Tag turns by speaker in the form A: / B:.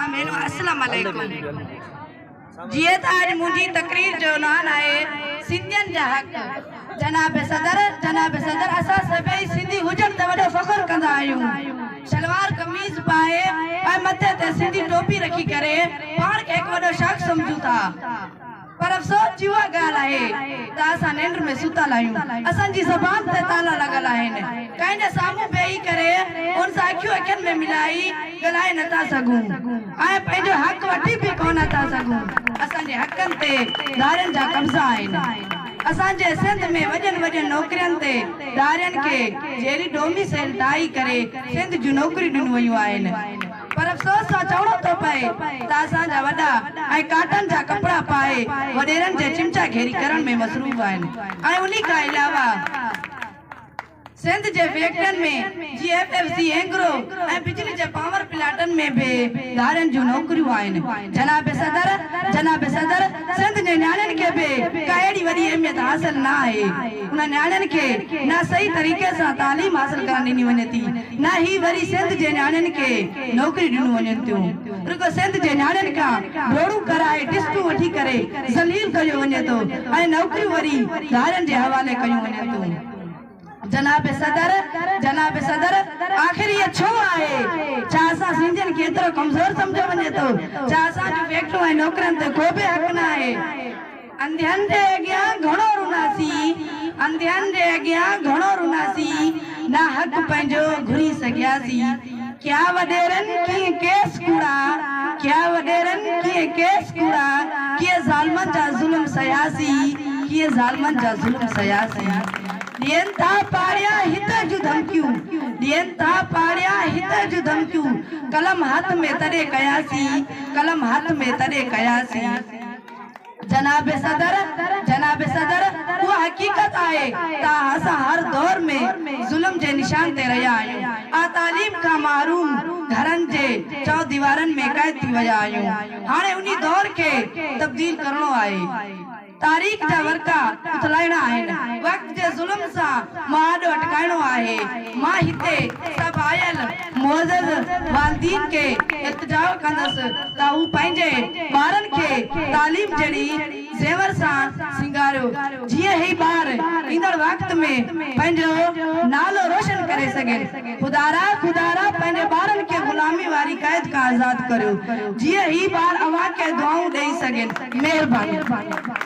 A: آمين و اسلام عليڪم جيئن ته اڄ منهنجي تقرير جو عنوان آهي سنڌين جا حق جناب صدر جناب صدر اسان سڀئي سنڌي هجڻ تي وڏو فخر ڪندا آهيون شلوار قميص پائي ۽ مٿي تي سنڌي ٽوپي رکي ڪري پاڻ کي هڪ وڏو شخص سمجهون ٿا پر افسوس جي اها ڳالهه آهي ته اسان ننڊ ۾ ستل آهيون، اسان جي زبان تي تالا لڳل آهن، ڪنهن جي سامهون بيهي ڪري ان سان اکيون اکين ۾ ملائي ڳالهائي نه ٿا سگهون ۽ پنهنجو حق وٺي به ڪونه ٿا سگهون، اسان جي حقن تي ڌارين جا قبضا آهن، اسان جي سنڌ ۾ وڏين وڏين نوڪرين تي ڌارين کي جيئري ڊوميسيل ٺاهي ڪري سنڌ جون نوڪريون ڏنيون ويون آهن. پر افسوس سان چوڻو ٿو پئي ته اسان جا وڏا ۽ ڪاٽن جا ڪپڙا پائي وڏيرن جي چمچا گيري ڪرڻ ۾ مصروف آهن ۽ انهي کان علاوه سنڌ جي فيڪٽرين ۾ جي ايف ايف سي اينگرو ۽ بجلي جي پاور پلانٽن ۾ به ڌارين جون نوڪريون آهن جناب صدر جناب صدر سنڌ جي نياڻين کي به ڪا اهڙي وڏي اهميت حاصل نه آهي. انهن نياڻين کي نه صحيح طريقي سان تعليم حاصل ڪرڻ ڏني وڃي ٿي نه هي وري سنڌ جي نياڻين کي نوڪريون ڏنون وڃن ٿيون. رڳو سنڌ جي نياڻين کان ڊوڙون ڪرائي ٽسٽون وٺي ڪري ذليل ڪيو وڃي ٿو ۽ نوڪريون وري ڌارين جي حوالي ڪيون وڃن ٿيون. جناب صدر جناب صدر آخر ايئن ڇو آهي؟ ڇا اسان سنڌين کي ايترو ڪمزور سمجهيو وڃي ٿو؟ ڇا اسان جون فيڪٽريون ۽ نوڪرين تي ڪو به حق نه آهي؟ انڌين جي اڳيان گهڻو روناسي انڌين جي اڳيان گهڻو روناسي نه حق پنهنجو گهري سگهياسي. ڪيا وڏيرن ڪيئن ڪيس ڪوڙا، ڪيا وڏيرن ڪيئن ڪيس ڪوڙا، ڪيئن ظالمن جا ظلم سهياسين، ڪيئن ظالمن جا ظلم سهياسين. ڏين ٿا پاڙيا هتر جون ڌمڪيون، ڏين ٿا پاڙيا هتر جون ڌمڪيون، قلم هٿ ۾ تڏهن ڪياسين، قلم هٿ ۾ تڏهن ڪياسين. جناب صدر، جناب صدر، اها حقيقت آهي ته اسان هر دور ۾ ظلم جي نشان تي رهيا آهيون ۽ تعليم کان محروم گهرن جي چوديوارن ۾ قيد ٿي ويا آهيون. هاڻي انهي دور کي تبديل ڪرڻو آهي. تاريخ جا ورقا اٿلائڻا آهن. وقت جي ظلم سان مهاڏو اٽڪائڻو آهي. مان هتي سڀ آيل. معزز والدين کي التجاء ڪندس ته هو پنهنجي ٻارن کي تعليم جهڙي زيور سان سينگاريو جيئن هي ٻار ايندڙ وقت ۾ پنهنجو نالو روشن ڪري سگهن خدارا خدارا پنهنجي ٻارن کي غلامي واري قيد کان آزاد ڪريو جيئن هي ٻار اوهان کي دعائون ڏئي سگهن مهرباني.